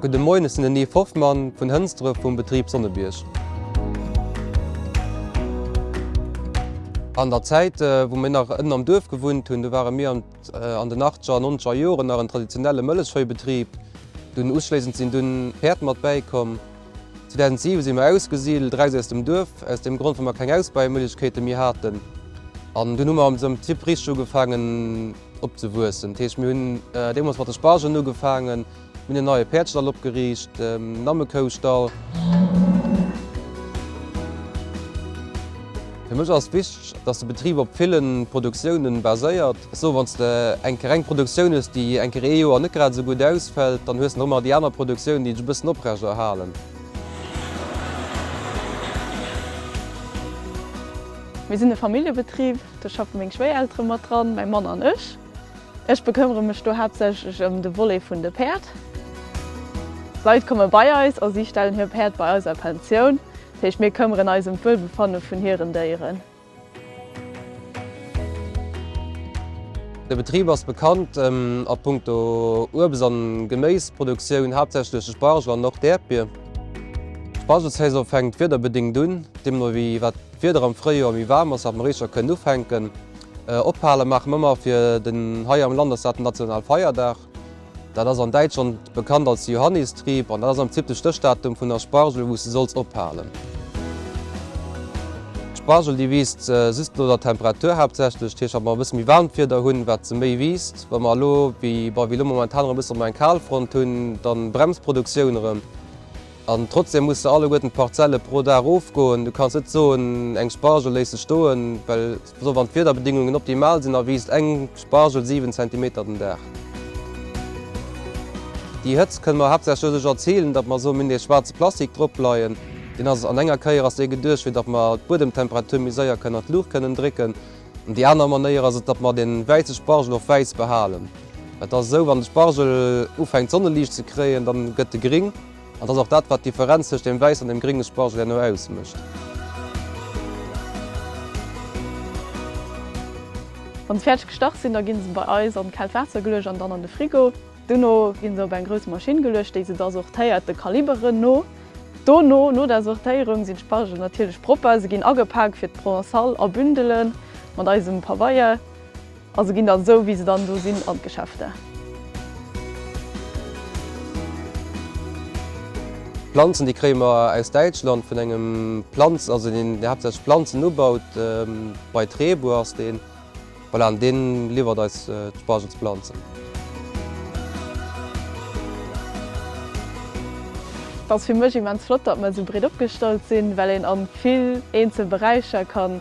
Gudde Moien, ech sinn den Yves Hoffmann vun Hënsdref vum Betrib Sonnebierg. An der Zäit wou mir nach ënnen am Duerf gewunnt hunn, do ware mir an den achtzeger an nonzeger Joren nach en traditionelle Mëllechveibetrib. Dunn uschléissend sinn dunn Päerd mat bäikomm. 2007 si mer ausgesidelt, eraus aus dem Duerf, aus deem Grond, well mer keng Ausbaimöglichkeete méi haten. An dunn hu mer am Prinzip richteg ugefaangen opzewuessen. Dat heescht, mir hunn deemools mat de Spargelen ugefaangen, mir hunn en neie Päerdstall opgeriicht, en Lammekoustall. Fir mech ass wichteg, dass de Betrib op villen Produktiounen baséiert, Sou wann s de eng Kéier eng Produktioun hues, déi eng Kéier ee Joer net grad esou gutt ausfält, dann hues de nach ëmmer déi aner Produktioun, déi dech e bëssen oprecht erhalen. Mir sinn e Familljebetrib, do schaffe meng Schwéiereltere mat dran, mäi Mann an ech. Ech bekëmmere mech do haaptsächlech ëm de Volet vun de Päerd. Leit komme bei eis a si stellen hir Päerd bei eis a Pensioun. Dat heescht, mir këmmeren eis ëm d'Wuelbefanne vun hiren Déieren. De Betrib ass bekannt a Punkto Uebst an Geméisproduktioun, haaptsächlech de Spargel an och d'Äerdbier. D'Spargelsaison fänkt wiederbedingt un, deemno wéi wat d'Wieder am Fréijoer méi waarm ass, wat mer éischer kënnen ufänken. Ophale maache mer ëmmer, fir den hei am Land ass dat den nationale Feierdag. Dat ass an Däitschland bekannt als Johannistrieb an dat ass am Prinzip de Stéchdatum vun der Spargel wou s de solls ophalen. D'Spargel déi wiisst just no der Temperatur haaptsächlech, dat heescht wa mer e bësse méi waarmt Wieder hunn, wat se méi wiisst. Wa mer elo wéi bei wéi elo momentan erëm e bësse méi eng Kalfront hunn, da bremst d'Produktioun erëm. An trotzdem musse alleguerten d'Parzelle pro Dag ofgoen. Du kanns net soen eng Spargel léisse stoen, well. Also wann d'Wiederbedingungen optimal sinn, erwiisst eng Spargel 7 Zentimeter den Dag. Déi Hëtzt kënne mer haaptsächlech doduerch erzilen, datt mer esou méi nees schwaarze Plastik dropleien. Deen ass an enger Kéier ass dee geduecht fir datt mer d'Buedemtemperatur méi séier kënnen an d'Luucht kënnen drécken. An déi aner Manéier ass et, datt mer dee wäisse Spargel och wäiss behalen. Et ass esou, wann de Spargel ufänkt Sonneliicht ze kréien, dann gëtt e gring. An dass och dat wat d'Differenz tëscht dem wäiss an dem gringe Spargel herno ausmécht. Wann se fäerdeg gestach sinn, da ginn se bei eis an d'kaalt Waasser geluecht an dann an de Frigo. Dono ginn se op eng grouss Maschinn geluecht, déi se da sortéiert de Kaliberen no. Dono, no der Sortéierung, sinn d'Spargelen natierlech propper. Se ginn agepak fir d'Provençale a Bündele mat eisem Pabeier. A se ginn dann esou wéi se dann do sinn an d'Geschäfter. Planzen déi kréie mer aus Däitschland vun engem Planz, also deen haaptsächlech Planzen ubaut, bei Trebour ass deen, voilà, an deen liwwert eis d'Spargelsplanzen. Et ass fir mech immens flott, datt mer esou breet opgestallt sinn, well een an vill eenzel Beräicher kann.